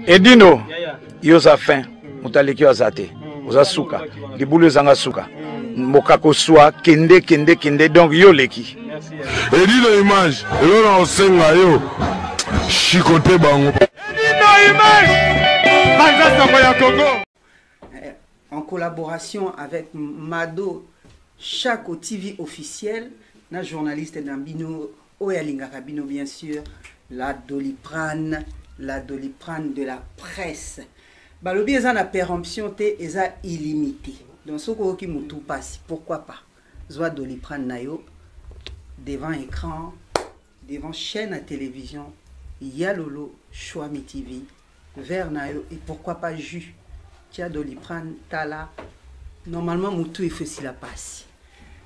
edino yo oza fin moto aleki yo aza te oza suka libulu ezanga suka mokako swa kende kende kende donc yo oleki edino image elo na osenga yo shikote bango edino image banza sango ya kongo Eh, en collaboration avec Mado Chaco TV officiel na journaliste na bino oyo alingaka bino bien sûr la doliprane la doliprane de la presse balobi eza na péremption te eza illimité donc soki oyoki motu mpasi pourquoi pas zwa doliprane na yo devant écran devant chaîne à télévision yalolo choami tv verre na yo et pourquoi pas jus tia doliprane tala normalement motu efo esila pasi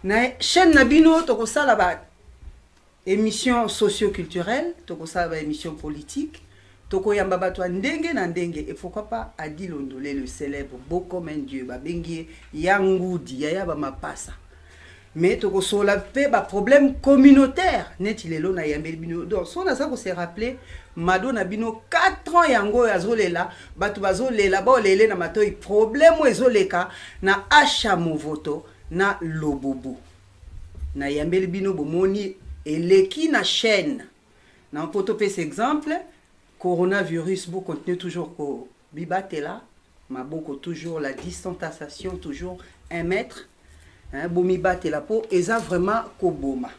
na chaîne na bino tokosala ba émission socioculturelle tokosala ba émission politique tokoyamba bato ya ndenge na ndenge et pourquoi pas adi londole le célèbre beau comme un dieu babengi ye ya ngudi yaya bamapasa mais tokosola mpe baproblème communautaire neti lelo nayambeli bino donc so naza kose rappeler mado na bino 4 ans yango oyo azolela bato bazolela baolele na matoi problème oyo ezoleka na asha movoto na lobubu nayambeli bino bomoni eleki na chaîne na mpo topesa exemple Coronavirus, vous continuez toujours ko bibatela, maboko toujours, la distanciation toujours, un mètre, hein, bomibatela po, eza vraiment koboma.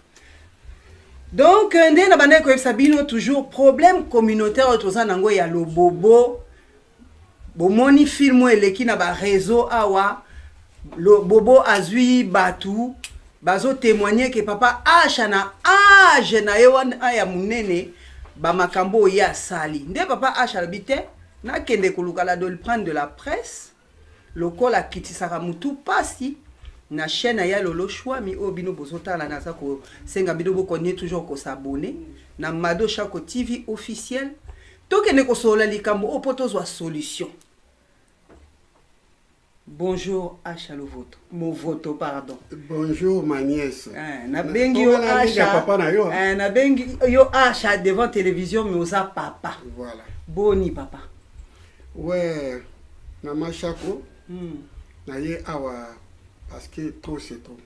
Donc, nde na bandeko yebisa bino toujours problème communautaire oyo toza nango ya lobobo bomoni film oyo eleki na bareseau awa bobo azwi bato bazotemoigne ke papa asha na age na ye wana ya monene bamakambo oyo ye asali nde papa asha alobi te nakende koluka la doliprane de la presse lokola akitisaka motu mpasi na chaîne ya lolo shwami oyo bino bozotala naza kosenga bino bokonye toujours kosabone na mado shako tv officiel tokende kosolola likambo oyo mpo tozwa solution bonjour asha lovoto movoto pardon bonjour ma nièce eh, nabengi yo asha papa na yo eh, nabengi yo asha devant télévision mais oza papa voilà boni papa ouais mama shako hmm. naye awa parce que trop c'est trop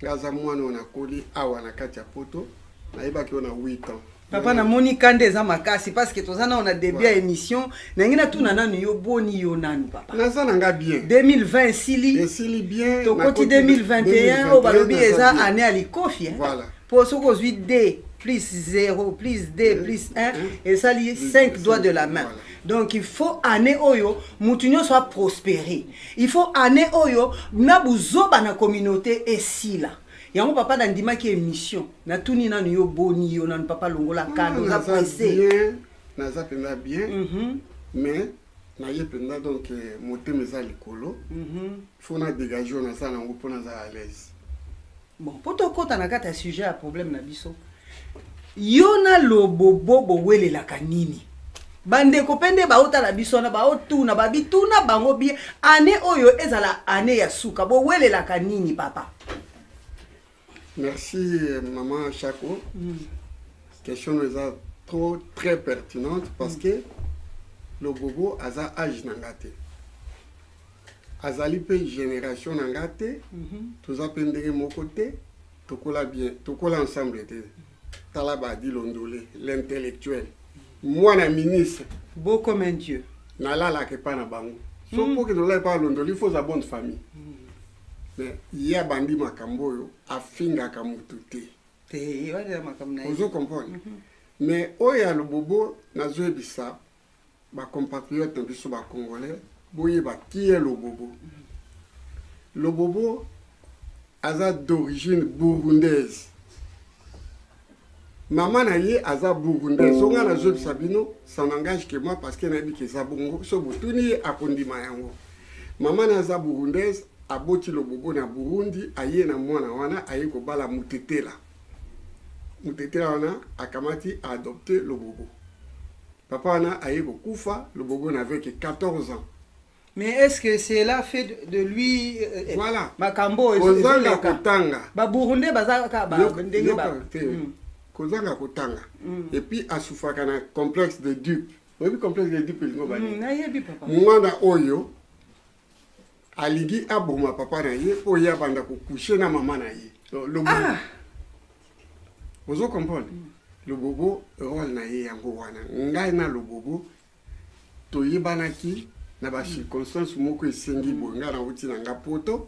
nga aza mwana oyo nakoli awa na kati ya poto nayebaki yo na 8 ans papa namoni kanda eza makasi parce que toza nao na début ya émission nangi natuna nanu yo boni yo nanu papa naza na nga bien 2020 esili esili bien tokoti 2021 oyo balobi eza année ya likofi eh? voilà. mpo soki ozwi d plus 0 plus d euh, plus 1 euh, esali 5 doigts de la main voilà. donc il faut année oyo motu nyonso aprospere il faut année oyo na buzoba na communauté esila yango papa nandimaki émission natuni nanu yo boni yo nanu papa longola hmm, kano oza presse naza mpenza bien mhm. mais naye mpenza donc eh, motema eza likolo mhm. fo na dégage oyo naza nango mpo naza à l'aise bon mpo tokɔta na kati ya sujet ya problème na biso yo na lobobo bowelelaka nini bandeko mpe nde baotala biso wana baotuna babituna bango bie ane oyo ezala ane ya suka bowelelaka nini papa merci maman chaco mm. question no eza trop très pertinente parce mm. que lobobo aza age na nga te azali mpe génération na nga te mm -hmm. toza mpe ndenge moko te tokola bien tokola ensemble te tala badi londole l'intellectuel mwana ministre beau comme un dieu nalalaka epa na bango so mpo okende olala epa alondoli faut oza bonne famille mais ye abandi makambo oyo afingaka motu te ozo comprendre mais oyo ya lobobo nazoyebisa ba compatriote na biso ba congolais boyeba kiye lobobo lobobo aza d'origine burundaise mama na ye aza burundais so ngai nazobisa bino ça n'engage que moi parce que nayebi ke eza bongo so botuni ye akondima yango mama na aza burundaise aboti lobobo na burundi aye na mwana wana aye kobala mutetela mutetela wana akamati aadopte lobobo papa wana aye kokufa lobobo na veke 14 ans mais est-ce que cela fait de, de lui euh, euh voilà. makambo oyo kozanga kotanga baburundais baza kaka ba ndenge ba mm. kozanga kotanga mm. et puis asufaka na complexe de dupe oyebi complexe de dupe elingo bani mm, nayebi papa mwana oyo aligi aboma papa na ye oyo abanda kokushe na mama na ye lobobo ah! ozo comprendre mm. lobobo role na ye yango wana ngai na lobobo toyebanaki na bacirconstance moko esengi boye ngai nauti na nga poto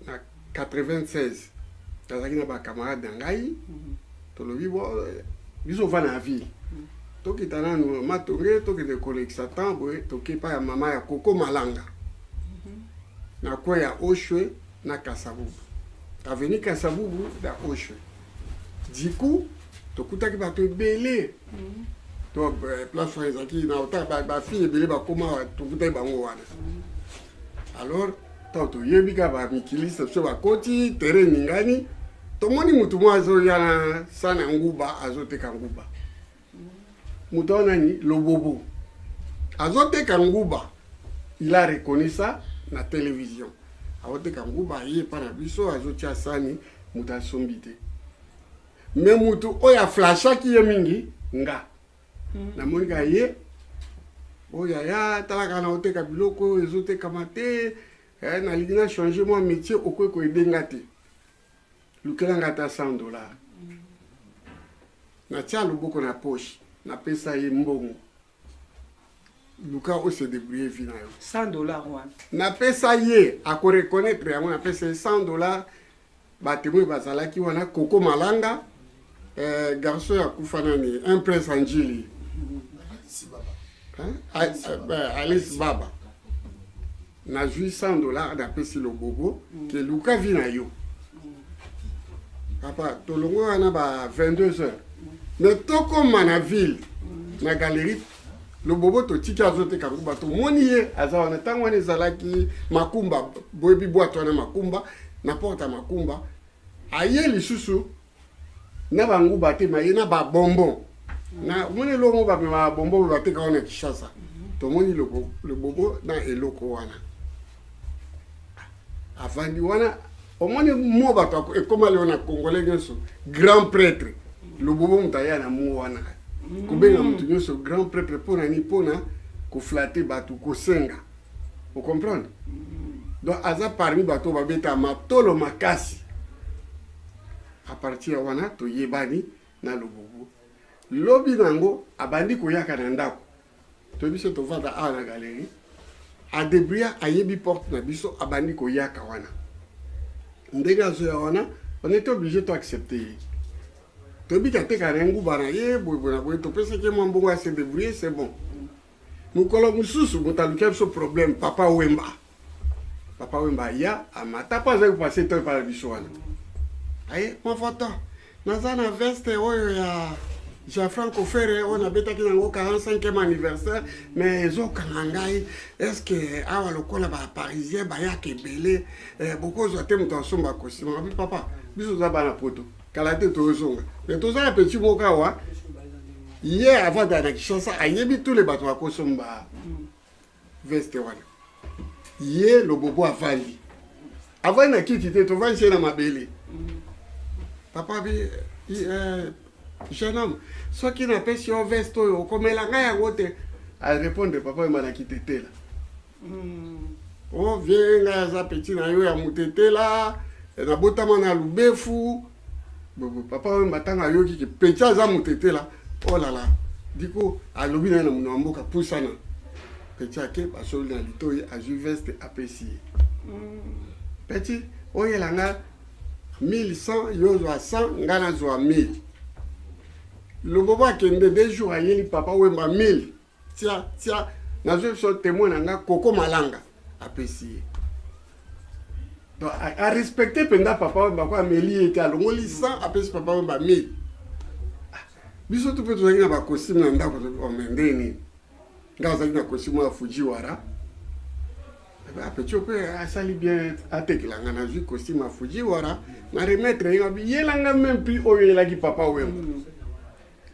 na 96 nazalaki na bacamarade na ngai mhm. tolobi bo biso ovanda na ville mhm. tokita nanu matonge tokende kolekisa temps boye toke epai ya mama ya koko malanga mhm. na kwe ya oshwe na kasabubu aveni kasabubu na oshwe diku tokutaki bato ebele to eh, place wana ezalaki na ota bafille ebele bakoma tokutaki bango wana alors ntango toyebi kaka bamikiliste biso bakoti tere eningani tomoni motu moko azoya na sana nguba azoteka nguba moto wana nani lobobo azoteka nguba il a reconnu ça na télévision azoteka nguba aye epa na biso azotia sani moto asombi te me motu oyo aflashaki ye mingi nga mm. namoni kaka ye oyo oh, yaya talaka na oteka biloko oyo ezotekama te eh, nalingi na change mwa métier okoki koyede nga te lukela nga ata 100 dollar mm. natya loboko na poche napesa ye mbongo luka ose debrouille vi na yo 100 dollar wana napesa ye akoreconnaitre yango napesa ye 100 dollar batemwe bazalaki wana koko malanga eh, garçon ya kufa nani un prince anjili alice baba nazwi 100 dollar napesi lobobo mm. ke luka vi na yo papa tolongo wana ba 22 heures me tokoma na ville na galerie loboboto tiki azoteka nkuba tomoni ye aza wana ntango wana ezalaki makumba boyebi bwato wana makumba na porte ya makumba aye lisusu na banguba te maye na babonbon na omoni eloko bamema babonbon bateka wana kishasa tomoni lobobo na eloko wana avandi wana omoni mo bato ekoma leo na congolais nyonso grand prêtre lobobo moto aya na mo wana kobenga moto mm. nyonso grand prêtre mpo na nini mpo na koflate bato kosenga ocomprendre mm. donc aza parmi bato babeta matolo makasi a partir ya wana toyebani na lobobo lobi na yango abandi koyaka na ndako to biso tovanda awa na galerie adebria ayebi porte na biso abandi koyaka wana ndenge azoya wana on est obligé to accepte ye toyebi tateka na nguba na ye boyeboye na boye topesaki ye mwa mbongo ya se debrouille c'est bon mokolo mosusu moto alukia biso problème papa wemba papa wemba aya amata mpo azali kopase to epai na biso wana aye mofoto naza na veste oyo ya jean franco fere oyo nabetaki nango 45e anniversaire mais ezokanga ngai estce awa lokola baparisien bayaka ebele eh, bokozwa te moto asomba kosima abi papa biso oza bana poto kala te tozonga mais toza na petit moko awa ye avant dana kishasa ayebi tule bato bakosomba veste wana ye lobobo avandi avandi na kiti te tovandi se na mabele papa bi eh, jeune homme soki napesi yo veste oyo okomela ngai yango te arépondre papa ema na kitetela mm. o oh, vie ngai aza peti na yo ya motetela nabotama na lubefu bobo papa oyo matanga ayoki ke penza aza motetela olala oh diko alobi naye na mono ya mboka pusana peti ake basoli na litoi azwi veste apesi ye peti oyela nga 1100 yo ozwa 100 nga nazwa 1000 lobobo akende de jour ayeli papa wemba 1000 tia tia nazwi biso témoin na nga koko malanga apesi ye donc arespecte mpenza papa wemba ko ameli ye te alongoli 100 apesi papa wemba 1000 ah, biso tu mpe tozalaki na bakosime na ndako ome oh, ndenge nini ngai azalaki na kosime ya fujiwara apeti eh mpe asali bien atekela ngai nazwi kosime ya fujiwara na remettre ye ngai yelanga meme prix oyo eyelaki papa wemba mm.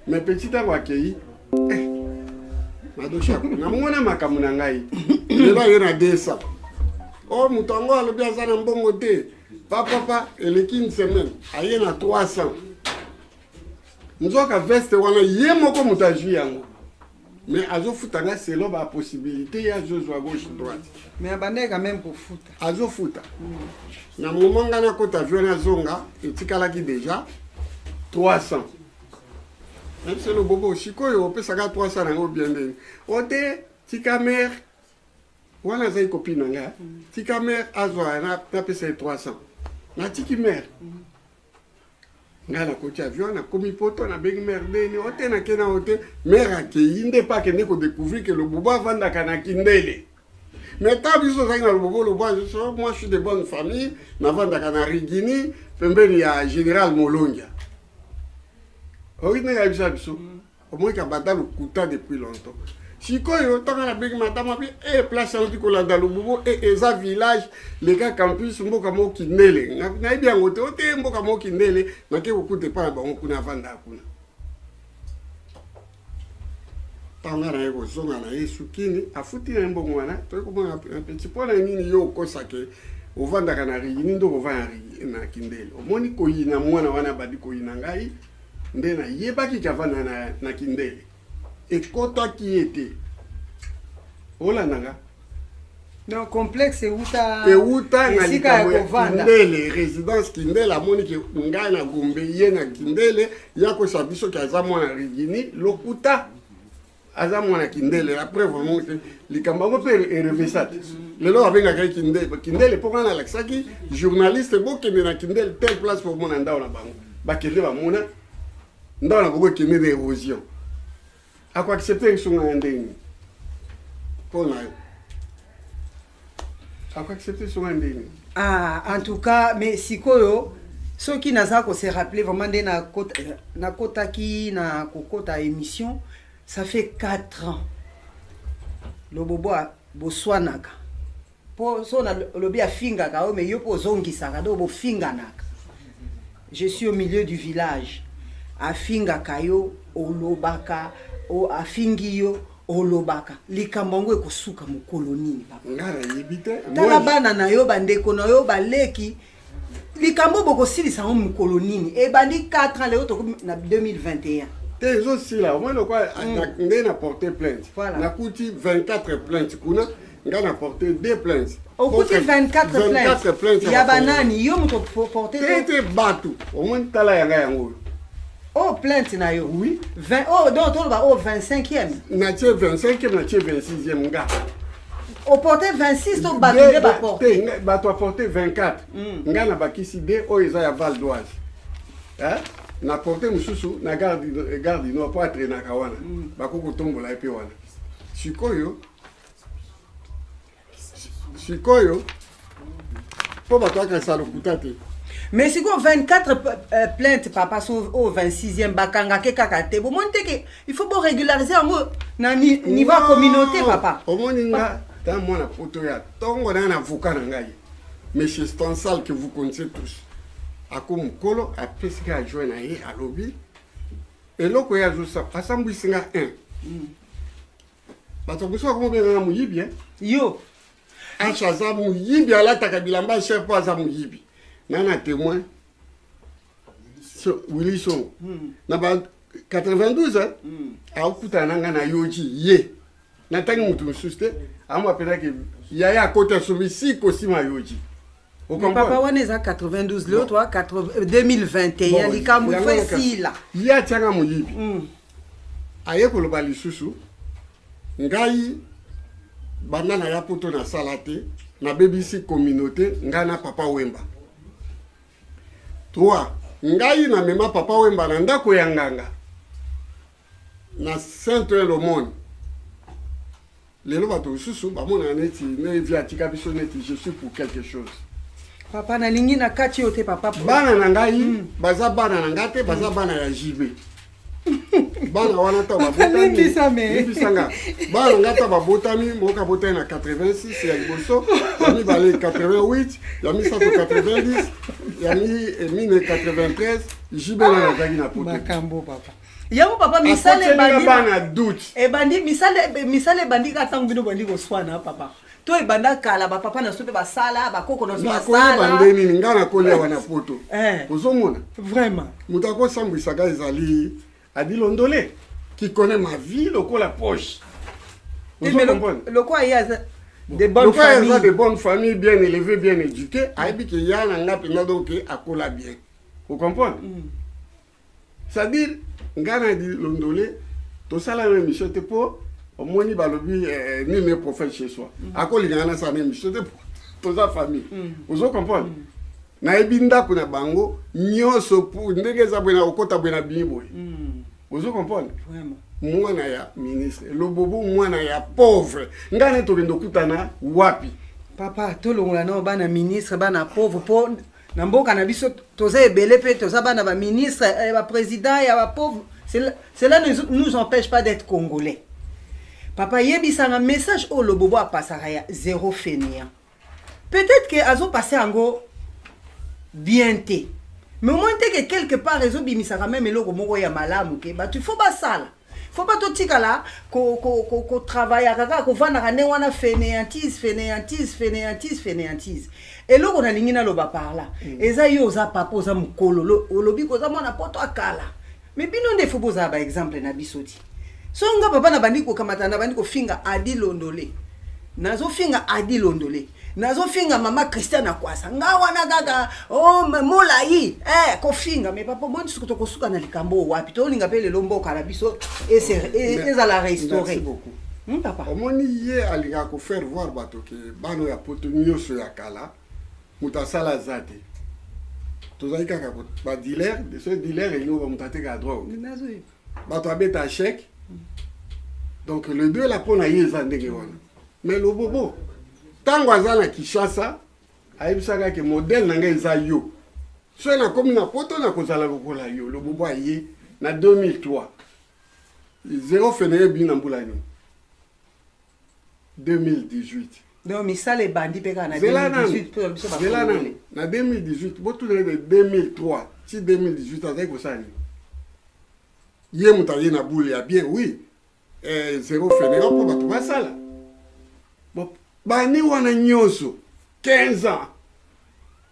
mais petit ntango akei eh, madosha namona makambo na ngai lelo aye na desa o oh, moto yango alobi aza na mbongo te papapa eleki une semaine aye na 300 nzoka veste wana ye moko moto azwi yango mais azofuta nga selo ba possibilité ye azozwa gauche droite mais abandaki quand même kofuta azofuta mm. na moment nga nakota avion nazonga etikalaki déjà 300 nabi selo bobo sikoyo opesaka 300 nango bien ndeni o te tika mare wana azali kopi na nga mm. tika mare azwa napesa ye 300 natiki mare mm. ngai nakoti avion nakomi poto nabengi mare deni ote nake na ote mare akei nde mpe akende kodecouvrir ke lobobo avandaka na kindele mais ta biso ozalaki na lobobo lobo azoso moi je suis de bonne famille navandaka na rigini pembeni ya général molongia oki ndenge ayebisa biso mm. omoi kabanda lokuta depuis longtemps sikoyo ntango nabengi matama mpe e eh, place auti kolanda lububo e eh, eza village leka campus mboka moko kindele nayebi yango te ote mboka moko kindele nake kokuta epai na bango kuna avandaka kuna ntango ngai naye kozonga na ye sukini afuti na ye mbongo wana toye komona petit mpo na nini yo okosake ovandaka na rigi nini nde okovanda na kindele omoni koyina mwana wana abandi koyina ngai nde nayebaki java na, na, na kindele ekotaki ye te olanda nga donc complexe euta euta na likambo ya kindele résidence kindele amoni ke ngai na gombe ye na kindele ya kosa biso ke aza mwana rigini lokuta aza mwana kindele la preuve omoni te likambo yango mpe erevisa te lelo abengaka ye kindele kindele mpo wana alakisaki journaliste bokende na kindele telle place mpo omona ndao na bango bakende bamona ndao na bango ekende na érosion akoaccepte esunga ya ndenge mpo na yo akoaccepte songa ndenge ah, en tout cas mais sikoyo soki naza kose rappeler vraiment nde nakotaki na kokota émission ça fait 4 ans lobobo boswanaka mpo so nalobi afingaka yo mais yo mpo ozongisaka donc bofinganaka je suis au milieu du village afingaka yo olobaka afingi yo olobaka likambo yango ekosuka mokolo nini papatala bana na yo bandeko na yo baleki likambo bokosilisa yango mokolo nini ebandi 4 ans lelo tokomi na 2021 te ezosila omoni lokola mm. nde na porte plainte nakuti 24 plainte kuna nga na porte deux plaintes okuti 24 plaintes ya banani yo moto porte te te bato omoni tala yanga yango oyo oh plainte na yo oui 20 oh donc toloba oh 25e na tie 25e na tie 26e nga oporte 26 to bato nde baporte bato aporte 24 mm. nga na bakisi de oyo eza ya val doise eh? na porte mosusu na garde du nord mpo atrenaka wana mm. bakoki kotombola ye mpe wana sikoyo sikoyo mpo bato bakanisa lokuta te mais sikoyo 24 euh, plainte papa so oyo oh, 26e bakangake kaka te bomoni te ke il faut boregulariser yango na niveau ya communauté papa omoni nga ta mwana poto ya ntongo na ya na avoka na ngai monsieur stansal que vous connaissez tous ako mokolo apesi nga ajoin na ye alobi eloko ye azosala asambwisi nga 1 mm. bato ya kusaka kobenga na moyibi hein? yo ashe aza moyibi alataka bilamba ya sher mpo aza moyibi ngai na témoin wili songo hmm. na ba 92 hein? Hmm. akokutana na ngai na yoji ye natangi moto mosusu te amoapelaki yaya akoti asombi si kosima yoji papa wana eza 92 leo toa 2021 likambo ifo esila ye atiaka moyibi mm. aye koloba lisusu ngai banda na ya poto nasala te nabebisi communauté ngai na papa wemba 3 ngai namema papa wemba na ndako ya nganga na saint oil omoni lelo bato mosusu bamonaka neti nevi atika biso neti je suis pour quelque chose papa nalingi na kati yo te papa bana na ngai mm. baza bana na ngai te baza mm. bana ya jibe bana wana ntango babotamiebisanga bana na ngai ntango babotami moko abotami na 86 ya liboso ya mibale 88 ya misato 90 ya 1993 jibe nani azalaki na poto yango papa misala ebandi misala ebandi ka ntango bino bandi koswana papa to ebanda kala bapapa na biso mpe basala bakoko na biso basalaba nde nini ngai nakoli awa na poto eh. ozomona vraiment moto akosambwisaka ezali adilondole qui connaît ma vie lokola poche lokola ye aza de bonne famille aza de bonne famille bien élevé bien éduqué ayebi ke ya na nga mpenza donc akola bien ocomprendre mm. c'est-à-dire ngai na dilondole tosala na émission te mpo omoni balobi eh, eh, nini prophète chez soi mm. akolingaka nasala na émission te toza famille mm. ozo comprendre mm. nayebi ndako na bango nyonso ndenge eza boye na kokota boye na bimi boye ozo comprendre mwana ya ministre lobobo mwana ya pauvre ngai ne tokende okutana wapi papa tolongola nao bana ministre bana pauvre mpo na mboka na biso toza ebele mpe toza bana ba ministre eh, ba président ya ba pauvre cela ne nous empêche pas d'être congolais papa yebisanga message oyo lobobo apasaka ya zéro fenian peut-être ke azopase yango bien te mais omoni te ke quelque part ezobimisaka meme eloko moko ya malamu ke bato il faut basala faut pas totikala kotravaillaka kaka kovandaka ndenge wana fainéantise fainéantise fainéantise fainéantise eloko nalingi naloba parla mm. eza yo oza papa oza mokolo olobi koza mwana poto akala me bino nde fo bozala baexemple na biso ti so nga papa nabandi kokamata nabandi kofinga adi londole nazofinga adi londole nazofinga mama christian akwasa nga wana kaka oh, molai eh, kofinga me papa omoni soki tokosuka na likambo oyo wapi tolinga mpe lelo mboka na biso ezala restaure hmm, papa omoni ye alingaka kofaire voir bato ke bano ya poto nyonso ya kala moto asala aza te tozali kaka badiler de ce diler elingo bamoto atekaka drogue bato abeta achec donc le deux la mpo na ye eza ndenge wana mais lobobo ntango aza na kinshasa ayebisaka ke modele na ngai eza yo soki nakomi na poto nakozala lokola yo lobobo aye na 2003 zero feneye bini na mbula nini 2018 donc misala ebandi mpe kaka na 2018 nani na 2018 botuna ete 2003 ti 2018 azali kosala nini ye moto aye na bule ya bien oui eh, zero feneka mpo bato basala bani wana nyonso 15 ans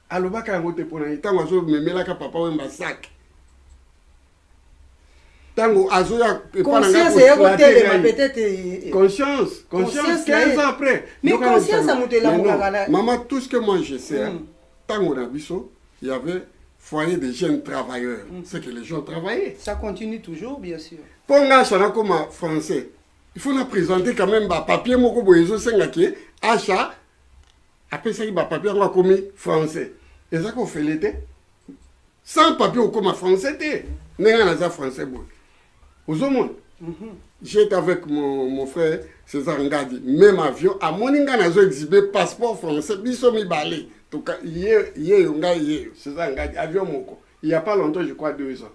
alobaka yango te mpo na ye ntango azomemelaka papa wemba sake ntango azoya epa na ngai conscience conscience 15 ans après mama tout ce que moi je sais hein, mm. ntango na biso y avait foyer des jeunes travailleurs mm. c'est que les gens travaillaient ça continue toujours bien sûr mpo ngai acha nakoma français il faut na présenter quand même bapapier moko boye ezosenga ke acha apesaki bapapie yango akomi français eza kofele te sans papie okoma français te ndenge naza français boye ozomona mhm. j'étais avec mon, mon frère césar ngadi même avion amoni ngai nazo exhibe passeport français biso mibale toka yeyo ngai yeyo césar ngadi avion moko il y a pas longtemps je crois deux ans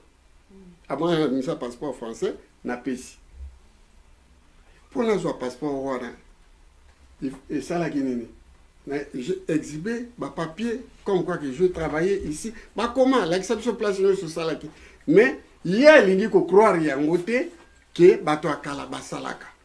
abonga abimisa passeport français napesi mpo nazwa passeport wana esalaki nini na exhibe bapapier comme quoi que je travaille ici bakoma alakisa biso place nyonso osalaki mais ye alingi kocroire yango te ke bato ya kala basalaka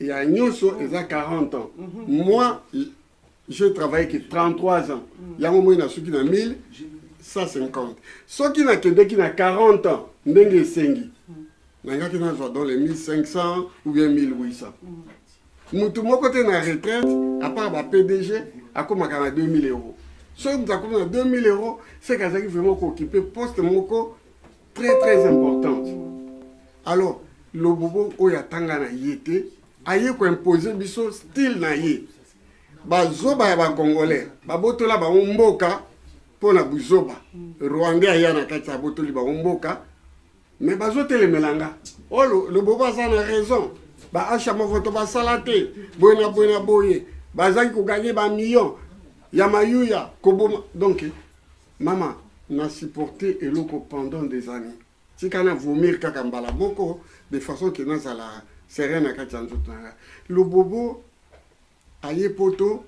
ya nyonso eza 40 ans mhm. moi je travaille que 33 ans mhm. yango moi nasuki na 1150 soki nakendeki na 40 ans ndenge esengi mhm. nangaki nazwa dans les 1500 ou bien 1800 motu moko te na retraite apart ba pdg akomaka na 2000 euros soki moto akomi na 2000 euros seke azalaki vraiment kookipe poste moko très très importante alors lobobo oyo atanga na ye te aye koimpose biso style na ye bazoba ya bacongolais babotola bango mboka mpo na buzoba rwandais aya na kati abotoli bango mboka me bazotelemela nga o oh, lobobo aza na raison baasha movoto basala te boye na boye na boye bazalaki koganye bamillion ya mayuya koboma donk Mama, na supporte eloko pendant des années. Tika na vomir kaka mbala moko de façon que nazala serein na kati ya nzoto na nga. Lobobo aye poto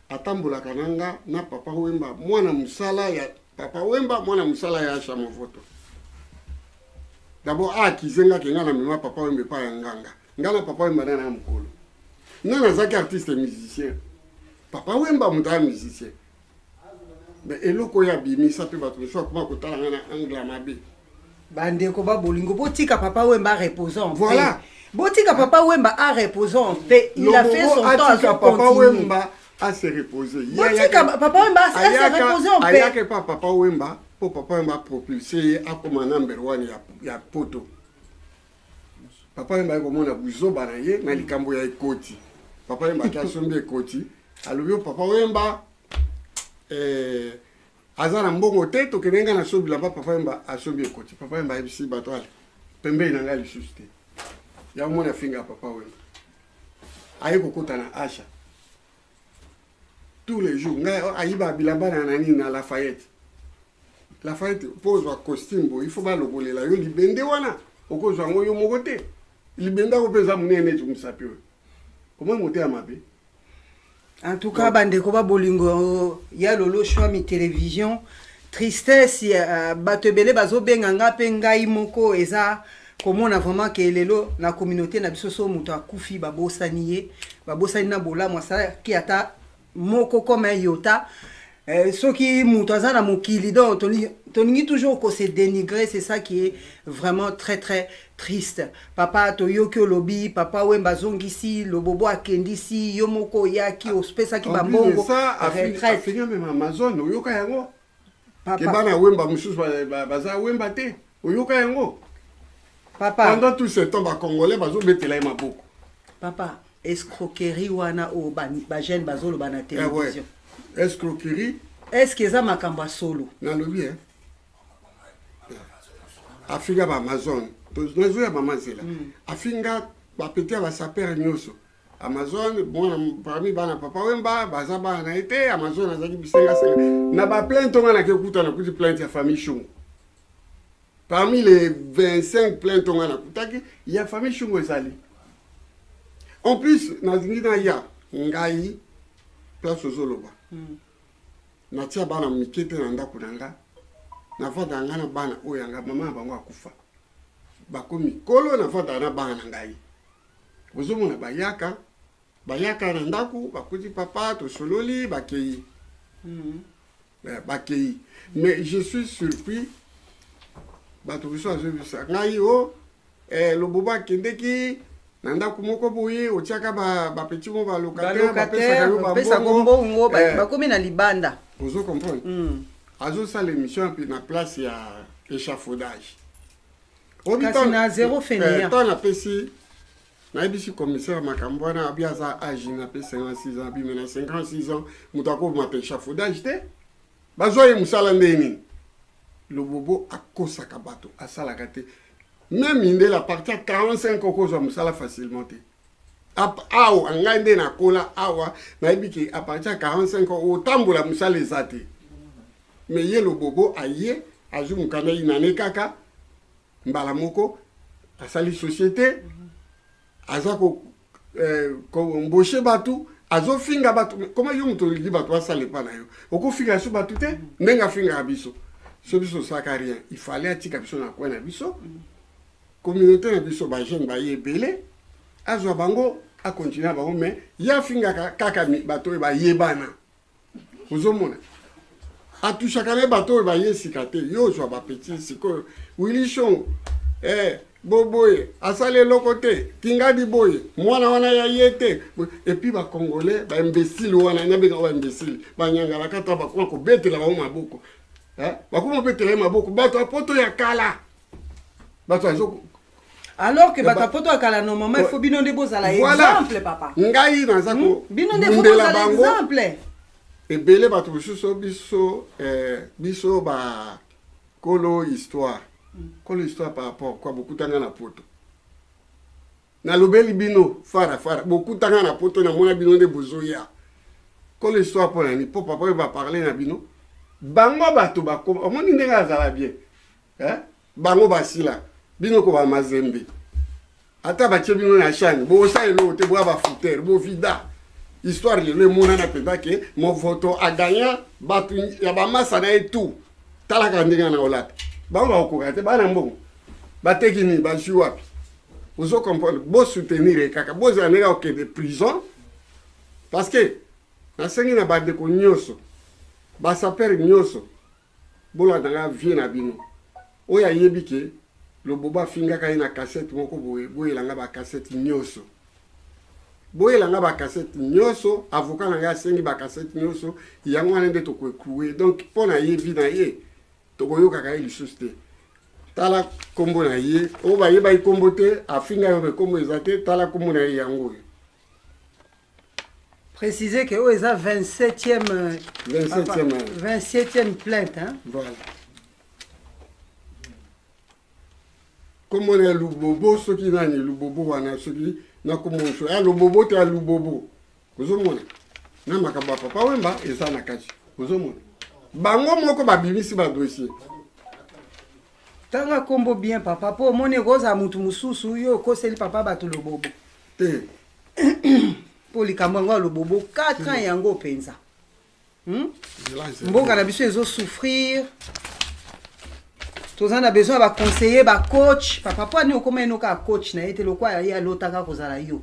atambolaka na nga na papa Wemba, mwana mosala ya papa Wemba, mwana mosala ya Asha Movoto. D'abord akize nga ke nga na mema papa Wemba epai ya nganga. Nga na papa Wemba na na mokolo. Nga nazaki artiste musicien. Papa Wemba moto ya musicien. mais eloko oyo abimisa mpe bato mosusu akoma kotala ngai na angle ya mabe bandeko ba bolingo botika papa wemba repose en voilà botika papa wemba a repose en paix il a fait son temps azo continuer a se reposer botika papa wemba a se reposer en paix ayaka epa papa wemba mpo papa wemba apropulse ye akoma number one ya, ya poto papa yemba ye komona buzoba na ye na likambo ya ekoti papa yemba ake asombi ekoti alobi yo papa oyemba eh, aza na mbongo te tokende ngai naso bilamba papa yemba asombi ekoti papa yemba ayebisi bato ale pembeni na ngai lisusu te yango mona finga papa wemba aye kokota na asha tous les jours ngai oh, ayiba bilamba na nani na lafayette lafayette mpo ozwa costume bo il faut balokolela yo libende wana okozwa yango yo moko te libende ako mpe eza monene neti mosapi oyo omoi moteya mabe en tout cas bandeko ba bolingo ya lolo shwami télévision tristesse ya euh, bato ebele bazobenga nga mpe ngai moko eza komona vraiment ke lelo na communauté na biso so moto akufi babosani ye babosani na bolamu asalaki ata moko comme yota eh, soki moto aza na mokili donc tolingi toujours ko se dénigrer c'est ça qui est vraiment très très triste papa toyoki olobi papa wemba azongisi lobobo akendisi yo moko oyaki opesaki bambongo retraite amazone oyoka yango ke bana wemba mosusu baza wemba te oyoka yango papa pendant tout ce temps bacongolais bazobetela ye maboko papa escroquerie wana oyo bajeune bazoloba na eh télévision escroquerie est ce que eza makambo ya solo nalobi e afinga baamazone nazoya mama nzela hmm. afinga bapeti ya basapere nyonso amazon mwana parmi bana papa wemba baza bana na ye te amazon azalaki bisengasenga na baplainte onga nake kuta nakuti plainte ya famille shungu parmi les 25 plainte onga nakutaki ya famille shungu ezali en plus nalingi naya ngai place ozoloba hmm. natia bana mike te na ndako na nga navanda nga na bana oyo yanga mama na bango akufa bakomi kolo navanda na bana na ngai ozomona bayaka bayaka na ndako bakuti papa tosololi bakei mm. eh, bakei mais je suis surpris bato biso azobisa ngai o oh, eh, lobobo akendeki na ndako moko boye otiaka bapeti mo balokatebapesaka yo mbongo eh. bakomi na libanda ozo comprendre mm. azosala émission na place ya échafaudage kasi na zero feniya ntango napesi nayebisi commissaire makambo wana abi aza age na mpe 56 ans abimi na 56 ans moto akobima mpe chafaudage te bazwa ye mosala ndenge nini lobobo akosaka bato asalaka te meme mindele apartir 45 okozwa mosala facilement te awa ngai nde nakola awa nayebi ke apartir ya 45 ans otambola mosala eza te me ye lobobo aye azwi mokanda inane kaka mbala moko asali société aza ko eh, komboshe bato azofinga bato koma yo moto olingi bato basala epa na yo okofinga so bato te ndenge afingaka biso so biso osalaka rien ifale atika biso na coin na biso mm -hmm. Communaute na biso ba jeune baye ebele azwa bango a continuer bango mais ye afingaka kaka bato oyo bayebana ozomona atushaka ne bato oyo baye sika te yo ozwa bapeti sikoyo willi shongo eh, boboye asali eloko te kingadi boye mwana wana ya ye te epuis bacongolais baimbesile wana nabenga oyo baimbesile banyangalakata bakoma kobetela bango maboko bakoma kobetela ye maboko bato ya poto ya kala bato azo alors que bato ya poto ya kala normalement il faut bino nde bozala exemple papa ngai naza hmm? bino nde bozala exemple ebele bato mosusu biso eh, biso ba kolo histoire hmm. kolo histoire par rapport kwa bokutanga na poto nalobeli bino fara fara bokutanga na poto namona bino nde bozoya kolo histoire mpo na nini mpo papa oyo baparle na bino bango bato bakoma omoni ndenge azala bien eh? bango basila bino ko bamazembe ata batie bino na shani bosala eloko te boya bafoutere bovida histoire lelo emonana mpenza ke movoto agagna bato ya bamasa na ye tout talaka ndenge na olata bango bakokoka te bana mbongo bateki nini bazwi wapi ozo comprendre bosoutenir ye kaka bozala ndenge akokende prison parce que nasengi na bandeko nyonso basapere nyonso bolanda nga vie na bino oyo ayebi ke lobobo afingaka ye na kasete moko boye boyela nga bakasete nyonso boyela nga bakasete nyonso avoka na ngai asengi bakasete nyonso yango wana nde tokoecloue donc mpo na ye vi na ye tokoyokaka ye lisusu te tala nkombo na ye oyo bayebaki nkombo te afinga yo me nkombo eza te tala nkombo na ye yango oyo Préciser que oyo eza 27e 27e 27e plainte hein. Voilà. komona ya lubobo soki nani lubobo wana soki nakomonso ya lubobo to ya lubobo ozomona na makambo ya papa wemba eza na kati ozomona bango moko babimisi badossier tanga kombo bien papa po omoni ekozala motu mosusu yo okoseli papa bato lobobo te mpo likambo yango ya lobobo 4 ans hmm. yango mpenza hmm? mboka na biso ezosouffrir toza na besoin ya baconseiller bacoach papa mpo ani okoma eno kaka coach na ye te lokola ye alotaka kozala yo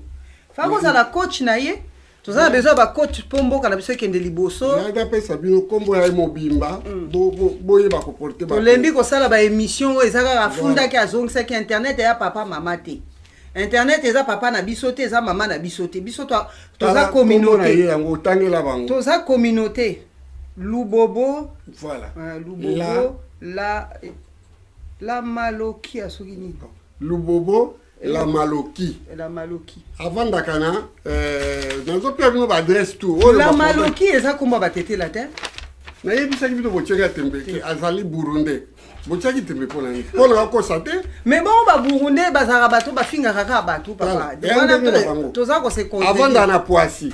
faa kozala coach na ye toza na besoin ya bacoach mpo mboka na biso ekende liboso nayaki apesa bino nkombo ya ye mobimba mm. boyeba koporte tolembi kosala baémission oyo eza kaka afundaki azongisaki internet ya papa mama te internet eza papa na biso te eza mama na biso te biso toza communauté yango otangela bango toza communauté lubobo voilà euh, lubobo la la malokia soki nini lubobo la maloki la maloki avandaka na euh, nazopesa bino baadresse tout oh, la maloki eza komba batetela te nayebisaki bino botyaki ya tembe te azali burundais botyaki tembe mpo na nini mpo na bakosa te mais bongo baburundais bazalaka bato bafingaka kaka bato papa toza kose avanda na poisi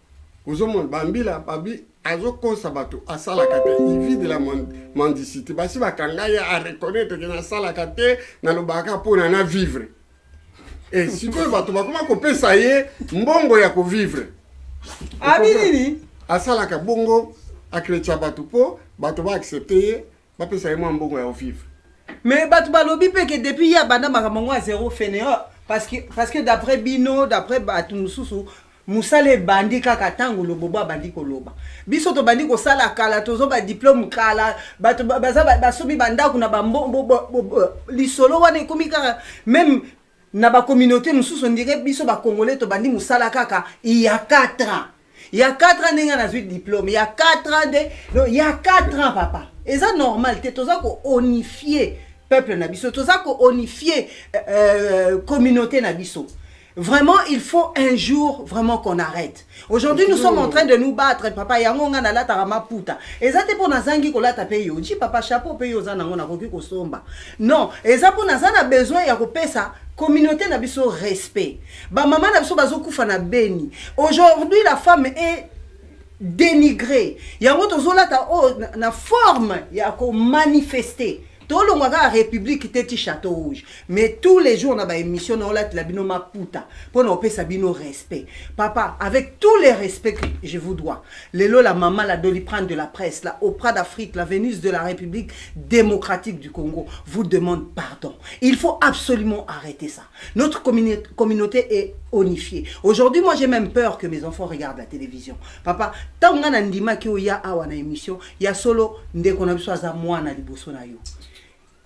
ozomona bambila babi azokosa bato asalaka te ivi de la mendicité basi bakanga ye areconnaitre ke nasalaka te nalobaka mpona na vivre e sikoyo bato bakoma kopesa ye mbongo ya kovivre abinini asalaka bongo akretia bato mpo bato baaccepte ye bapesa ye mwa mbongo ya ovivre mais bato balobi mpe ke depuis ye abanda makambo yango ya zero fainéant parce que, parce que d'après bino d'après bato mosusu mosala ebandi kaka ntango lobobo abandi koloba biso tobandi kosala kala tozo badiplome kala bato baza basomi bandako na lisolo wana ekomi kaka meme na bacommunauté mosusu ondire biso bacongolais tobandi mosala kaka iya 4 ans Il y a 4 ans ndenge nazui diplôme, il y a 4 ans de non, il y a 4 ans papa. Et ça normal, tu toza ko unifier peuple na biso, toza ko unifier euh, euh, communauté na biso. Vraiment, il faut un jour vraiment qu'on arrête. Aujourd'hui, nous sommes en train de nous battre. Papa, yango nga na lata rama puta. Eza te pona zangi ko lata pe yo. Ji papa chapeau pe yo zana ngona koki ko somba. Non, eza pona zana besoin ya ko pesa communauté na biso respect. Ba maman na biso bazo kufa na Beni. Aujourd'hui la femme est dénigrée. Yango tozolata oh, na, na forme ya ko manifester. tolongwa kaka république te ti château rouge mais tous les jours na baémission na olatela bino maputa mpo na kopesa bino respect papa avec tous les respects que je vous dois lelo la mama la doliprane de la presse la opra d'afrique la vénus de la république démocratique du congo vous demande pardon il faut absolument arrêter ça Notre communauté est onifiée. Aujourd'hui, moi, j'ai même peur que mes enfants regardent la télévision. Papa, tant que a ndima ki oya awa na émission, ya solo ndeko na biso aza mwana liboso na yo.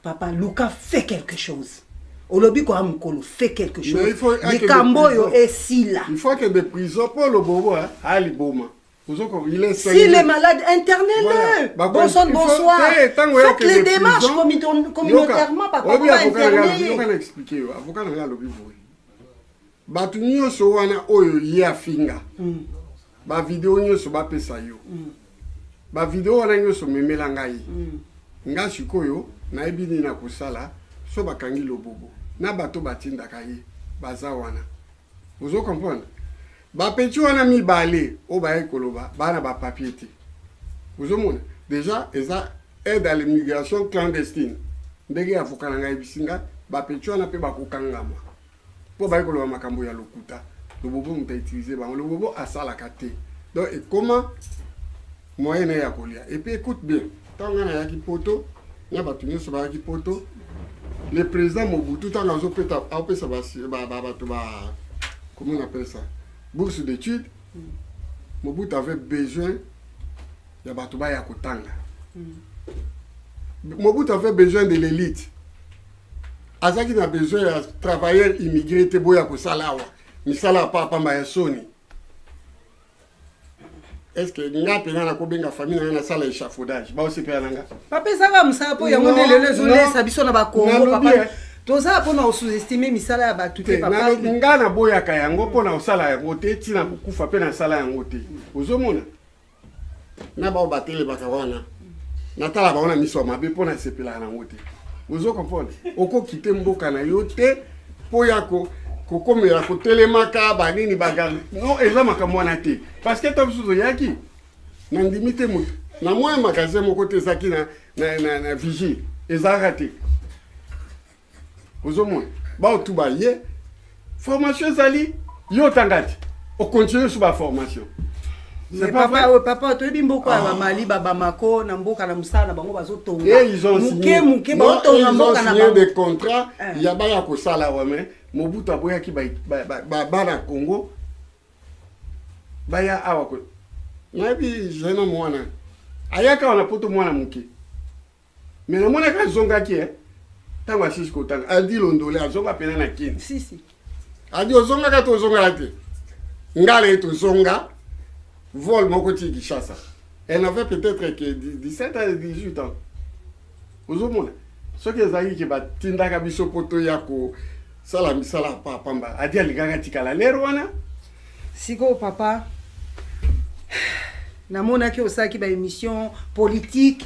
Papa, Luka fait quelque chose. olobi koya mokolo fait quelque chose likambo oyo esila il faut akende prison mpo lobobo aliboma S'il est malade, internez-le. Voilà. Bonsoir, bonsoir. Hey, Faites les démarches communautairement, papa. Obi avocat na expliquer yo. Avocat na lobi boy. Batu nyoso wana oyo ye afinga. Hmm. Ba vidéo nyoso ba pesa yo. Hmm. Ba vidéo wana nyoso memela ngai. Hmm. Nga sikoyo nayebi nini nakosala so bakangi lobobo na bato batindaka ye baza wana ozo comprendre bapeti wana mibale oyo bayaki koloba baa na bapapier te ozomona déjà eza aide à l'immigration clandestine ndenge avoka na ngai ayebisi ngai bapeti wana mpe bakokangama mpo bayaki koloba makambo ya lokuta lobobo moto autilize bango lobobo asalaka te donc ekoma moyen na ye ya kolia et puis écoute bien ntango ngai nayaki poto na bato nyonso bayaki poto le président mobutu ntango azopeta apesa bato ba comment on appelle ça bourse d'étude mm. mobutu avait besoin ya bato baya kotanga mm. mobutu avait besoin de l'élite azalaki na besoin ya travailleur immigré te boya kosala awa misala ya papa pamba ya soni est ce que nga mpenza nakobenga famille na nga nasala échafaudage baosepela na nga papa ezaka mosala mpo yango nde lelo ezolesa biso na bakongo papa eh. toza mpo na kosous-estime misala ya bato te nga naboyaka yango mpo na kosala yango te ntina kokufa mpe nasala yango te ozomona na bao batelemaka wana natala bango na miso ya mabe mpo nasepelaka nango te ozo comprendre okokite mboka na yo te mpo ya kokomela kotelemaka banini bagarde no eza makambo wana te parce que ta mosusu oyaki nandimi te moto na mwa magasin moko te ezalaki na, na, na, na vigie ezalaka te ozomona baotu baye formation ezali yo otanga te okontinue su baformation papa toyebi mboka ya ah. bamali babamako na mboka na mosala na bango bazotongamoke moke baotonga mboka na bango des contrats eh. ya baya kosala wame mobutu aboyaki bana congo baya awa nayebi jeune mwana ayaka wana poto mwana moke mais namonaki azongaki e ntango asisi kotanga adi londole azonga mpena na kini sisi adi ozongaka to ozongaka te ngala ye tozonga vol moko ti kishasa elle avait peut-être que 17 à 18 ans ozomona soki ezalaki ke batindaka biso mpo toya kosala misala pa pamba adi alingaka tikala lere wana sikoyo papa namonaki osalaki baémission politique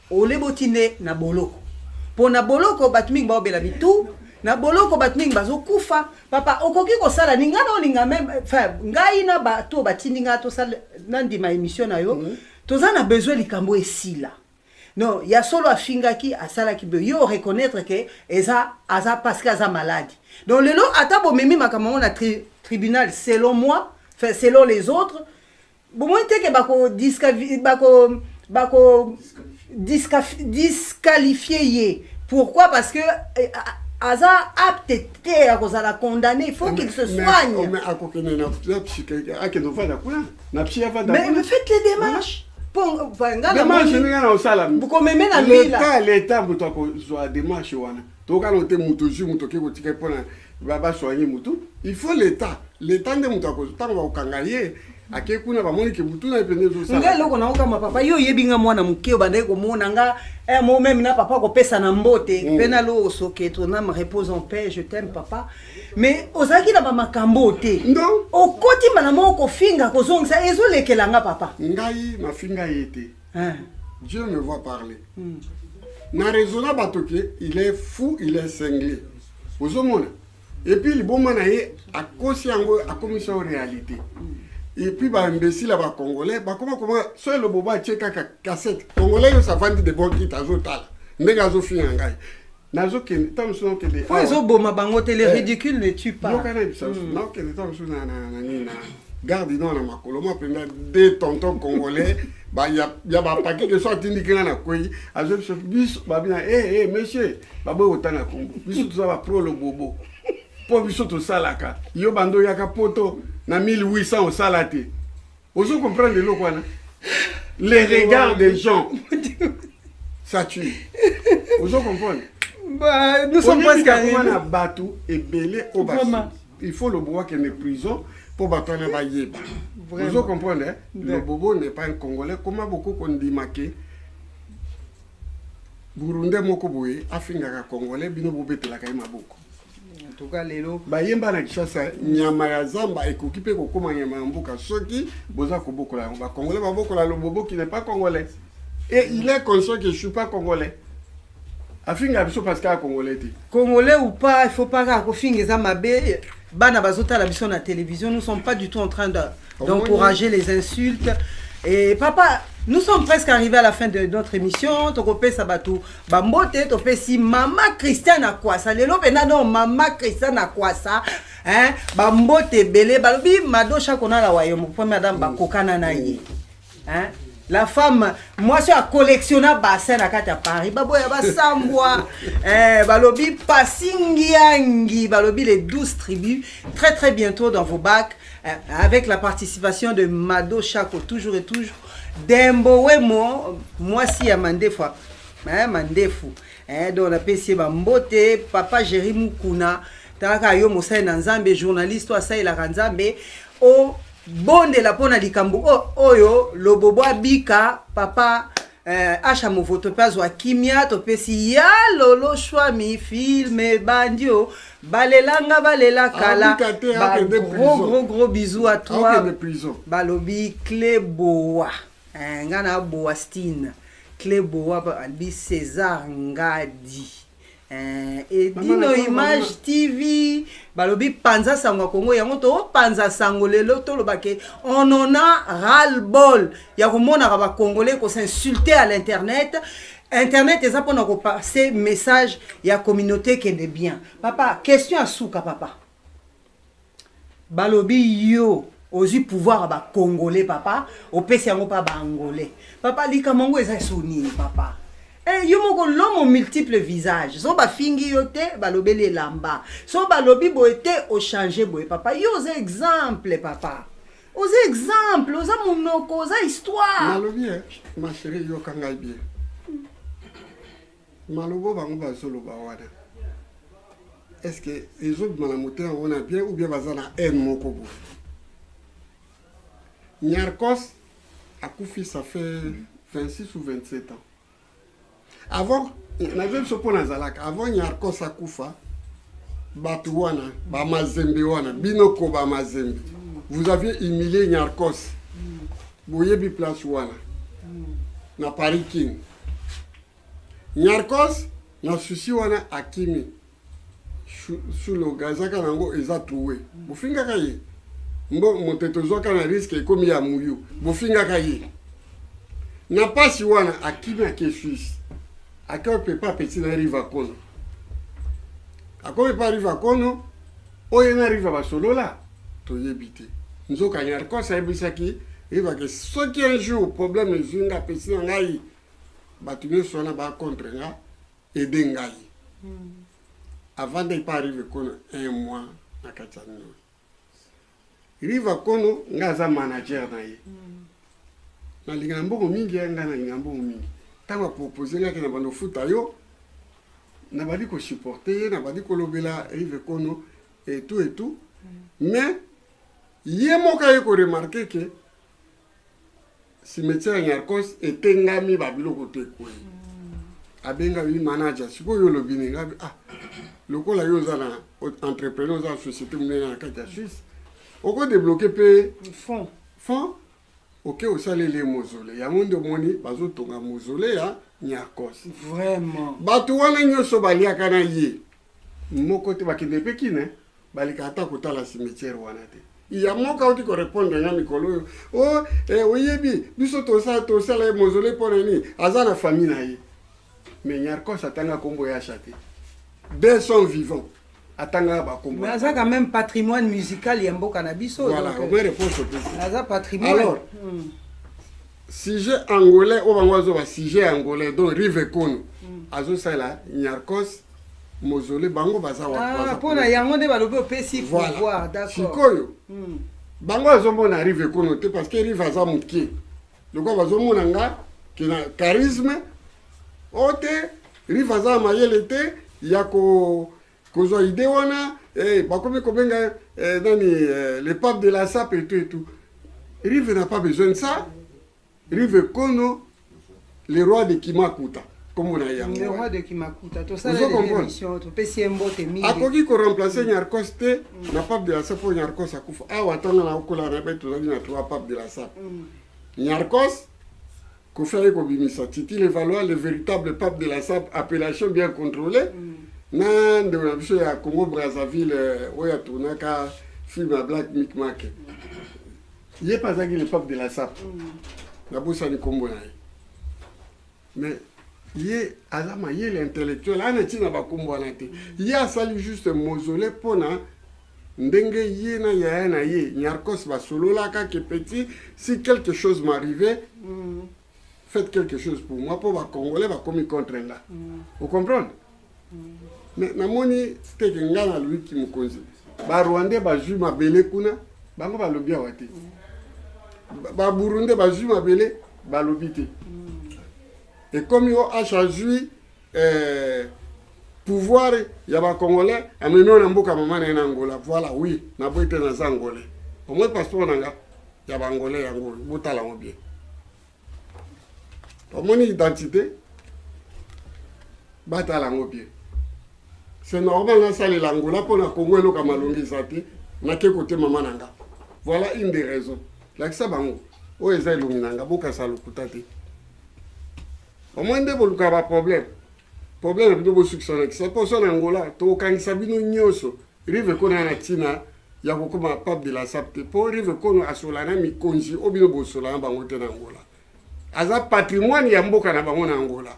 ole boti nde na boloko mpo na boloko bato mingi baobela mitu na boloko bato mingi bazokufa papa okoki kosala ni ngai naolinga meme ngai na bato oyo batindi ngai tosala nandima émission na yo mhm. toza na besoin likambo esila non ya solo afingaki asalaki boye yo oreconnaitre ke eza aza parce que aza maladi donc lelo ata bomemi makambo yango na tri, tribunal selon moi selon les autres bomoni te ke bako bako bako disqualifie ye pourquoi parce que eh, aza apte te ya kozala condamné il faut qu'il se soigne akokende na psy akende ovanda kuna na psy avanda mais faites les démarches demarche ndenge na osala leta leta moto akozwa demarche wana tokano te moto ozwi moto oke kotika mpona basoigne motu il faut l'état l'état nde moto akozwa ntango bakokanga ye ake kuna bamoni ke motu naye mpende ezosalangai eloko naokama papa yo oyebi nga mwana moke obandaki komona nga eh, mo meme na papa kopesa na mbote mm. mpe na loso ke toname repose en paix je t'aime papa mais ozalaki na bamakambo oyo te okoti mbala moko kofinga kozongisa ezolekela nga papa ngai nafinga ye te hein. dieu me voit parler hmm. na raisonna bato ke il est fou il est cinglé ozomona epuis liboma na ye akosi yango akomisi yango réalité epuis baimbesile ya bacongolais bakoma koma so elobo batie kaka kasete congolais nyonso avandi de bon kite azotala ndenge azofinga ngai nazokende ntango mosusu nakende po ezoboma bango te le eh. ridicule ne tue pas yokana ebisa hmm. nakokende ntango mosusu na nini na garde nord na makolo ma mpenza de tonton congolais ya bapaki ke so atindiki nga na kwei azwa biso biso babina e eh, eh, monsieur baboyi kotanga kombo biso toza bapro lobobo mpo biso tosalaka yo bando oyaka poto na 1800 osala te ozo comprendre eloko wana les regards des gens ça tue ozo comprendre bah, nous sommes presque arrivés na bato ebele oyo basi il faut lobo akende prison mpo bato wana bayeba ozo comprendre eh? lobobo n'est pas un congolais koma bokoki kondima ke burundais moko boye afingaka congolais bino bobetelaka ye maboko toka lelo bayemba na kishasa nyama ya zamba ekoki mpe kokóma nyama ya mboka soki boza kobokola yango bakongolais babokola loboboki ne pas congolais e il est conscient que je suis pas congolais afinga biso parce kaka congolais te congolais ou pas il faut pas kaka kofinga eza mabe bana bazotala biso na télévision nous sommes pas du tout en train de d'encourager les insultes et papa nous sommes presque arrivés à la fin de notre émission tokopesa bato bambote topesi mama christian akwasa lelo mpena donc mama christian akwasa hein? bambote ebele balobi madosha konala wayo mopremier madame bakokana na ye Hein? la femme mwasi oyo acollectiona bassin na kati ya paris baboya basambwa eh, balobi pasingiangi balobi les 12 tribus très très bientôt dans vos bacs eh, avec la participation de mado chaco toujours et toujours dembo wemo mwasi ya mandefu eh, mandefu eh, donc napesi ye bambote papa géri mukuna talaka yo mosali na nzambe journaliste oyo asalelaka nzambe o bondela mpo na likambo oyo lobobo abika papa eh, asha movoto mpe azwa kimia topesi ya lolo shwami filme ebandi o balelanga balela kala gros gros gros bisou à toi balobi cle boa eh, ngai na boa stine cle boa albi césar ngadi Eh, edino image tv balobi panza sango ya kongo yango topanza sango lelo tolobake on en a ral bol ya komonaka bacongolais kosinsulte à l'internet internet eza mpona kopase message ya communauté kende bien papa question ya suka papa balobi yo ozwi pouvoir ya bacongolais papa opesi yango mpa baangolais papa likambo yango eza so nini papa Hey, eh, yo moko lomo multiple visage so bafingi yo te balobeli elamba so balobi boye te ochange boye papa yo oza exemple papa oza exemple oza monoko oza histoire nalobi eh, ma chérie yoka ngai bien malobo bango bazoloba wana est ce que ezobima na moto yango na bien ou bien baza na haine moko boye nyarcos akufi ça fait 26 ou 27 ans avant nazo biso mpo nazalaka avant nyarcos akufa bato wana bamazembe wana bino ko bamazembe vous aviez humilié nyarcos boyebi place wana na paris king Nyarkos na souci wana akimi suloga ezaka nango eza trouwe bofingaka ye mbo moto tozwaka na riske ekomi ya muyu bofingaka ye na mpasi wana akimi ake suisse ake opepa peti na riva kono akomi pa riva kono oyo na riva basolola toyebi te nzoka nyarkos ayebisaki riva ke soki un jour problème ezwi nga pesi na ngai bato nyonso wana ba contre nga ede ngai hmm. avant nde epa arrive kono un mois na kati ya nini riva kono ngai aza manager na ye hmm. nalingana mbongo mingi ya ngai nalingana mbongo mingi ntango apropose ngaki na bando ofuta yo nabandi kosupporte ye nabandi kolobela rive kono etu etu hmm. mais ye moko aye koremarke ke cimetière ya nyarcos etengami babiloko te kwe abengami manager sikoyo olobi nini ngabi ah lokola yo oza na entrepreneur oza na société monene na kati ya suisse okodebloke mpe fond fond oke osaleli ye mozole yango nde omoni bazotonga mozole ya nyarcos vraiment bato wana nyonso baliaka na ye moko te bakende mpe kine eh? baleka ata kotala cimetière wana te ya moko auti korepondre nga mikolo oyo o oh, eh, oyebi biso tosala tosala ye mozole mpo na nini aza na famille na ye mais nyarcos atanga nkombo ya asha te de son vivant atangaka bakombo aza quand même patrimoine musical ya mboka na biso voilà obe réponse opesi aza patrimoine alors hmm. sujet angolais oyo bango azo ba sujet angolais donc rive kono mm. azosalela nyarcos mozole bango baza wapona ah, yango nde balobi opesi pouvoir d'accord sikoyo mm. bango azomona rive kono te parce que rive aza moke lokola bazomona nga kina charisme o te rive aza mayele te ya ko kozwa idée wana eh, bakomi kobenga eh, nani eh, le pape de la sape et tout et tout rive n'a pas besoin de ça rive kono le roi de kimakuta komona yangoopesi ye mbote mingi akoki koremplace nyarcos te mm. na pape de la sape oyo nyarcos akufa awa ntanga na okola na be tozali na trois pape de la sape mm. nyarcos Koffi aye kobimisa Titi le Valois le véritable pape de la SAP appellation bien contrôlée mm. na ndeko na biso ya Congo Brazzaville euh, oyo atournaka film ya Black Mick Mac mm. ye mpe azalaki le pape de la SAP mm. nabosani nkombo na ye mais ye aza mayele intellectuel ana ntina bakombo wana te ye asali juste mausolée mpo na ndenge ye na yaya na ye nyarcos basololaka ke petit si quelque chose m'arrive mm. faites quelque chose pour moi mpo bacongolais bakomi contre nga mm. ocomprendre mm. mais namoni teke nga na lwiki mokonzi barwandais bazwi mabele kuna bango balobi awa te mm. baburundais bazwi mabele balobi te mm. ekomi oash azwi eh, pouvoir ya ba congolais amemi na mboka mama na ye na angola voilà oui naboyi mpe naza angolais omoi passeport na nga ya baangolais yango oyo botala yango bien omoni identité batala yango bien c'est normal nasalela angola mpo na kongo eloka malongi eza te nake kote mama na nga voilà une des raisons lakisa bango oyo eza elongi na nga bokasa lokuta te omoni nde boluka ba problème problème bino bosukisa na kisa poso na angola tokokangisa bino nyonso rive kono ya na ntina ya kokoma pape de la sap te mpo rive kono asola na mikonzi oyo bino bosola na bango te na angola aza patrimoine ya mboka na bango na angola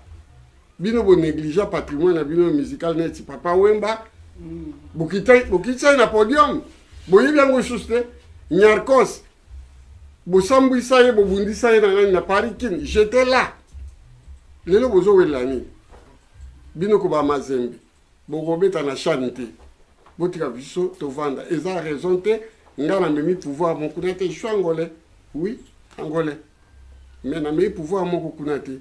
bino bonégligea patrimoine na bino musical neti papa wemba mm. bokitani na podium boyebi yango lisusu te nyarcos bosambwisa ye bobundisa ye na nani na paris kin jete la lelo bozowelela nini bino koba mazembe bokobeta na shane te botika biso tovanda eza raison te nga namemi pouvoir mokuna te jui angolais oui angolais mais namemi pouvoir moko kuna te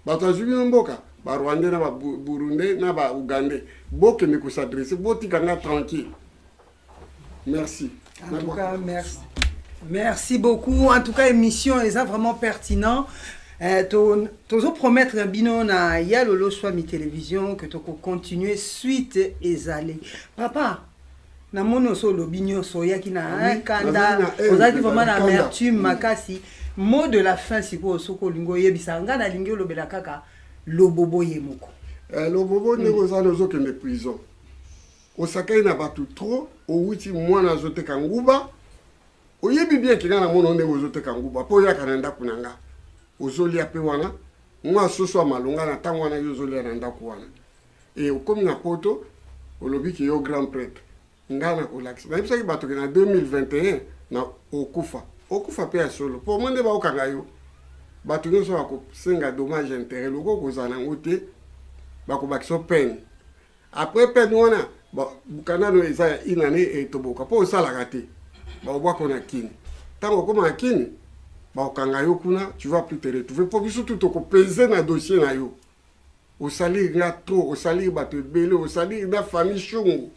bato azwi bino mboka barwandais na baburundais na baougandais bokende kosadresse botika nga tranquille merci en tout cas merci merci beaucoup en tout cas émission eza vraiment pertinent eh, tozo promettre na bino na ya lolo swami télévision que toko continuer suite ezali papa namoni oso olobi nyonso oyaki na kanda ozalaki vraiment na amertume makasi mot de la fin sikoyo soki olingi oyebisa ngai nalingi olobela kaka lobobo ye moko eh, lobobo ndenge oza na ozokende prison osakani na bato trop owuti mwana azoteka nguba oyebi bien kenga na mona ndenge ozoteka nguba mpo oyaka na ndako na nga ozolia mpe wana mwa soso ya malonga na ntango wana yo ozolia na ndako wana e okomi na poto olobi ke yo grand prêtre ngai nakolakisa nayebisaki bato ke na 2021 na okufa okufa mpe ya solo mpo omoi nde baokanga yo bato nyonso bakosenga dommage intérêt loko okozala na yango te bakobakisa pene après peine wana bukana no eza ya une année etoboka mpo osalaka te baobwako na kini ntango okoma na kini bakokanga yo kuna tu vas plus te retrouver mpo biso tu tokopese na dossier na yo osaliri nga trop osaliri bato ebele osaliri na famille shungu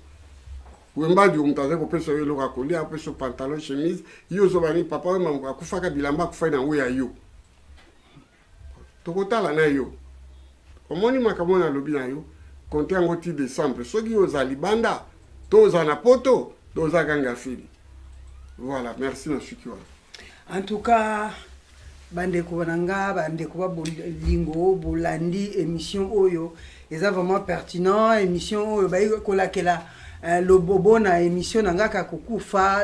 wembadi oyo moto azali kopesa yo eloko ya kolia apesa pantalon chemise yo ozobani papa wembango akufaka bilamba akufai na ngo ya yo tokotala na yo omoni makambo oyo nalobi na yo konte yango ti décembre soki oza libanda to oza na poto to oza ganga fili voilà merci na suki wana en tout cas bandeko na nga bandeko ba bolingo bolandi émission oyo eza vraiment pertinent émission oyo bayi kolakela euh, lobobo na émission na nga kakokufa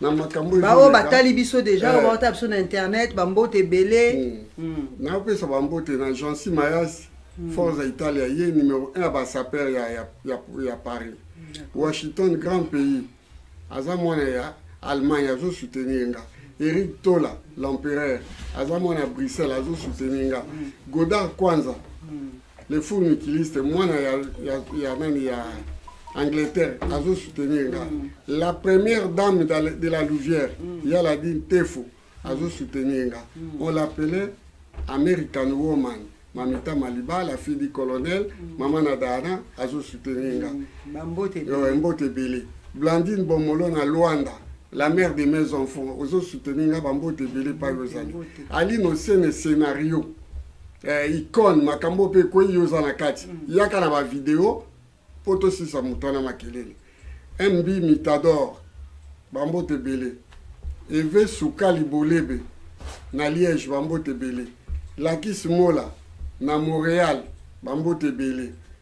na makambo baoyo batali biso deja oyo baotala biso na internet bambote ebele napesa bambote na jansi mayasi forza italia ye numero 1 ya basaper ya paris washington grand pays aza mwana ya allemagne azosoutenir nga eric tola l'empereur aza mwana ya bruxelles azosoutenir nga godard kwanza mm. le fou mikiliste mwana ya, ya, ya nani ya angleterre azo soutenir nga mm. la première dame de la louvière mm. ya la dine tefo azo soutenir nga mm. on l'appelait american woman mamita maliba la fille du colonel mm. mama na dana azo soutenir nga mm. mbote ebele blandine bomolo na luanda la mère de mes enfants ozo soutenir nga bambote ebele pai ozali alino sene scénario eh, icone makambo mpe ekwei yo oza na kati mm. yaka na bavideo mpo tosisa moto wana makelele mb mitador bambote ebele eve sukali bolebe na liège bambote ebele lakis mola na montréal bambote ebele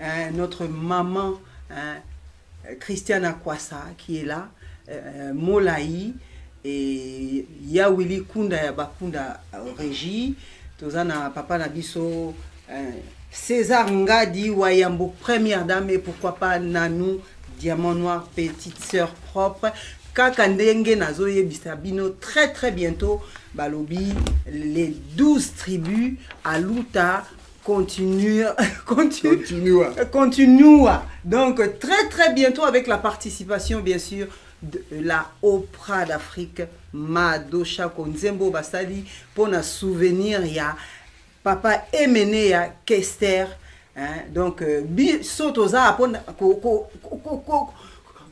hein, notre maman hein, Christiana Kwasa qui est là, euh, Molaï, et Yawili Kunda ya Bakunda euh, Régie, Tozana Papa Nabiso, euh, César Ngadi Wayambo, première dame, et pourquoi pas Nanou, Diamant Noir, petite sœur propre, kaka ndenge nazoyebisa bino très très bientôt balobi les 12 tribus aluta Continue, continue, continua. continua. Donc, très très bientôt avec la participation, bien sûr, de la Oprah d'Afrique, Mado Chako Nzembo Basali, pour un souvenir, il y a Papa Emenea Kester. Hein, donc, euh, biso toza apona ko ko ko ko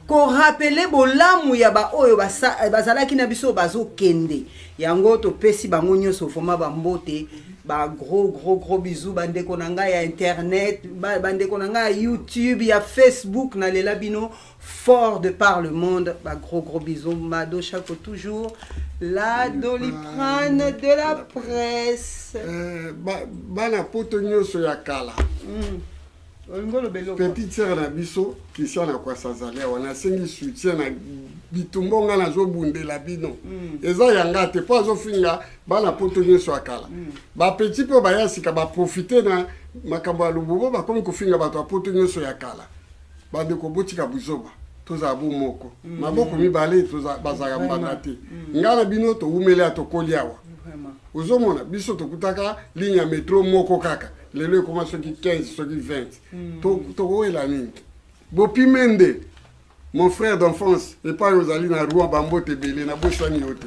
korapele bolamu ya baoyo eh, bazalaki na biso bazokende yango topesi bango nyonso vraimen bambote bagros gros gros bizu bandeko na ngai ya internet bandeko na ngai ya youtube ya facebook nalela bino fort de par le monde bagros gros bizu mado chako toujours la doliprane de la presse eh, bana poto nyonso ya kala mm. petite sœur na biso christian akwasa azali awa nasengi soutien na bitumbo ngai nazobundela bino mm. eza yanga te mpo azofinga bana poto nyonso ya kala mm. bapeti mpe baya sika baprofite na makambo ya lobobo bakomi kofinga bato ya poto nyonso ya kala bandeko botika buzoba tozala bo moko mm. maboko mibale bazalaka mbanda te ngai na bino towumeli ya tokoli awa ozomona biso tokutaka ligne ya metro moko kaka lelo ekoma soki 15 soki 20 hmm. tokowela nini bopime nde mon frère d'enfance epai ozali na roi bambote ebele nabosani yo te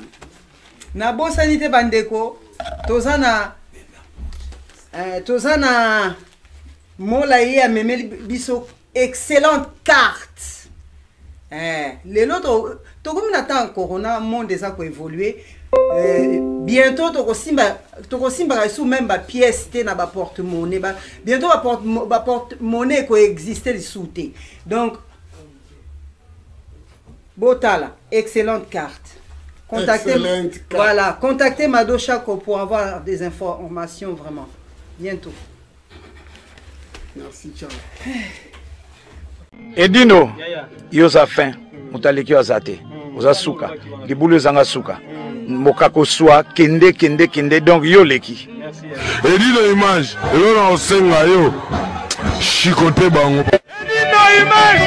nabosani te bandeko toza na eh, toza na mola ye amemeli biso excellente carte eh, lelo tokomi na ntango corona monde eza koévolue eh, bientôt tokosimba tokosimbaka lisusu meme bapièce te na baporte monnaie ba, bientôt baporte monnaie ekoexiste lisusu te donc botala excellente carte contactez, excellente carte. voilà contactez mado chaco pour avoir des informations vraiment bientôt Merci, ciao. Edino, yo za fin, mutaleki yo za te. Oza suka, libulu ezanga suka. Mokako swa kende kende kende donc yo leki. Edino image, yo na osenga yo. Chicote bango. Edino image.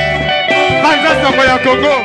Banza sango ya Congo.